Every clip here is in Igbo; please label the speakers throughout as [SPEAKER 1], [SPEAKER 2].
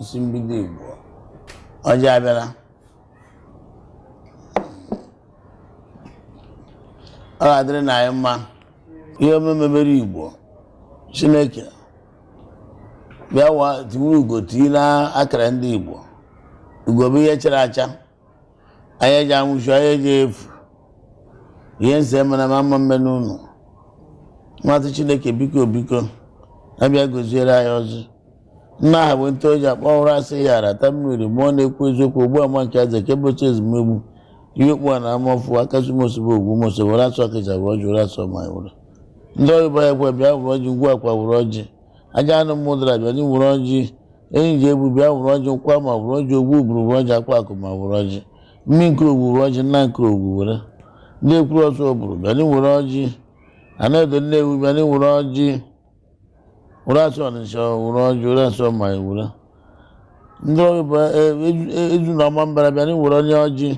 [SPEAKER 1] isi mbido Igbo ọjị abịala ọ ga-adịrị na anyị mma ihe omume mere Igbo Chineke bịawa tiwuru ugo tii na akara ndị Igbo ugo bụ ihe chara acha anyị eji anwụchu anyị eji efu ihe nse mana ma mma mme n'ụlọ nwatụ chineke biko biko abịa goziere anyị ọjị nna aha bụ nte oji akpọ ọhụrụ a sị ya rata mmiri ma ọ na-ekwu eziokwu ugbu ama nke aza ka ụbọchị ezumegbu ihe okpu a na amafu akasi mosebe ogwu mose Ụrasị Ọkịja wụrụ ọjị Ụrasị ọma were ndị ọyịba ya gwa bịa wụrụ ọjị ngwa akwa wụrụ ọjị Ajanị Ụmụdara bịanị wụrụ ọjị enyi ji egbu bịa wụrụ ọjị nkwa ma wụrụ ọjị Ogwugwu wụrụ ọjị Akwakụma wụrụ ọjị mmi nke ogbu wụrụ ọjị nna nke ogbu were ndị ekwuru Ọzụbụrụ bịanị wụrụ ọjị Anaedo Nnewi bịanị wụrụ ọjị Ụrasị Ọnịcha wụrụ ọjị Ụrasị ọma were ndị ọrụ bụ eju na Ọmambara bịanị wụrụnị ọjị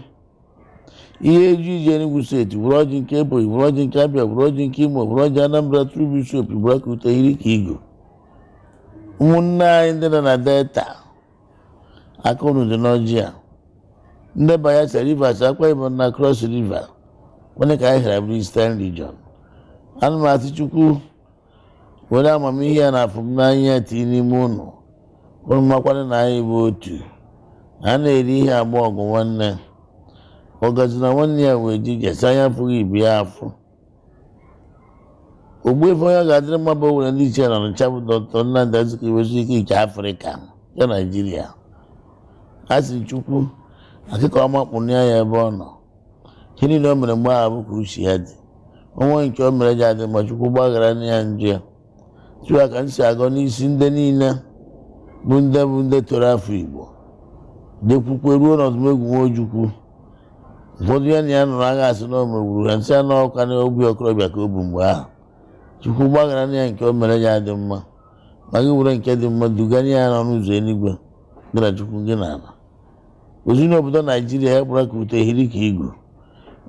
[SPEAKER 1] ihe e ji eji Enugu steeti wụrụ ọjị nke Ebonyi wụrụ ọjị nke Abịa wụrụ ọjị nke Imo wụrụ ọjị Anambra tru bishop gbara ka ute hiri ka igu ụmụnne anyị ndị nọ na Delta aka unu dị n'ọjị a ndị Bayelsa Rivers Akwa Ibom na Cross River kwene ka anyị hara bụrụ Eastern Region ana m asị Chukwu were amamihe ya na afụmnanya ya tinye n'ime unu unu makwanụ na anyị bụ otu a na-eri ihe agba ọgụ nwanne ọgazi na nwanne ya wee ji je sị anya afụghị ibe ya afụ Ogbuefi onye ga-adịrị mma bụ Owelle ndị ichie na Ọnịcha bụ dọkịta Nnamdi Azikiwe Zik nke Afrịka nke Naijiria a sị Chukwu akịka ọma kpụnye ya ebe ọ nọ ihe niile o mere mgbe ahụ bụ ka uche ya dị o nwee nke o mere ji adị mma Chukwu gbaghara na ya njọ ya otu a ka m si agọ n'isi ndị niile bụ ndị bụ ndị toro afọ igbo dekwukwe ruo n'Odumegwu nwa Ojukwu ụfọdụ ya na ya nụrụ agha a sị na o megburu ya m sị ịnụ ọkụ n'obi okorobịa ka ọ bụ mgbe ahụ chukwu gbaghara na ya nke o mere ya dị mma ma gị were nke dị mma duganye ya n'ọnụ ụzọ eluigwe gị na chukwu gị na ala ozi n'obodo naijiria ya gbara ka ute hiri ka igu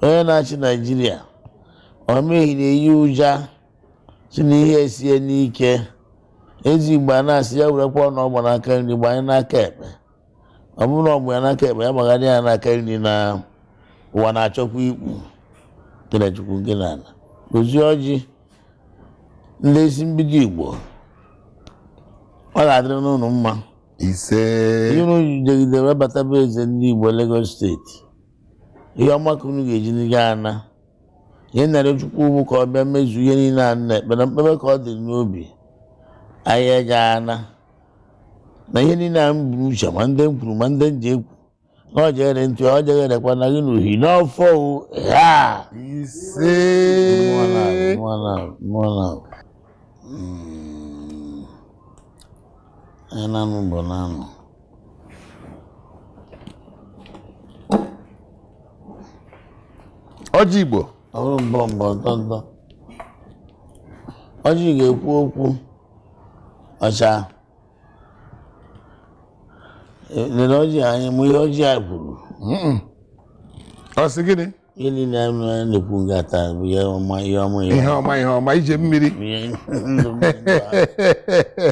[SPEAKER 1] onye na-achị naijiria ọmehi na-eyi ụja sị na ihe esie n'ike ezi igbo a na-asị ya werekwa ọna ọ gba n'aka nri gbanye n'aka ekpe ọ bụrụ na ọ gba ya n'aka ekpe ya gbagharị ya n'aka nri na ụwa na-achọkwa ikpu gị na chukwu gị na ala ozi ọjị ndị isi mbido igbo ọ ga-adịrị n'unu mma ise ihe unu jidegide wee bata be eze ndị Igbo Lagos steeti ihe ọma ka unu ga-eji n'iga ana ihe m na-arịọ Chukwu bụ ka ọ bịa mezu ihe niile a nna ekpere mkpebe ka ọ dịrị n'obi ahịa ga ana na ihe niile a unu buru uche ma ndị m kwuru ma ndị m ji ekwu na ọ jeghere ntị ọ jegherekwa na gị n'uhi n'ọfọ o ha ise anyị na-anụ mmụọ na-anụ. ọjị igbo ọ bụrụ mbọ mbọ ntọ ntọ ọjị ga-ekwu okwu ọcha lere ọjị anyị nụ ihe ọjị a kwuru ọ sị gịnị ihe niile a na-ekwu nga a taa bụ ihe ọma ihe ọma ihe ọma ije mmiri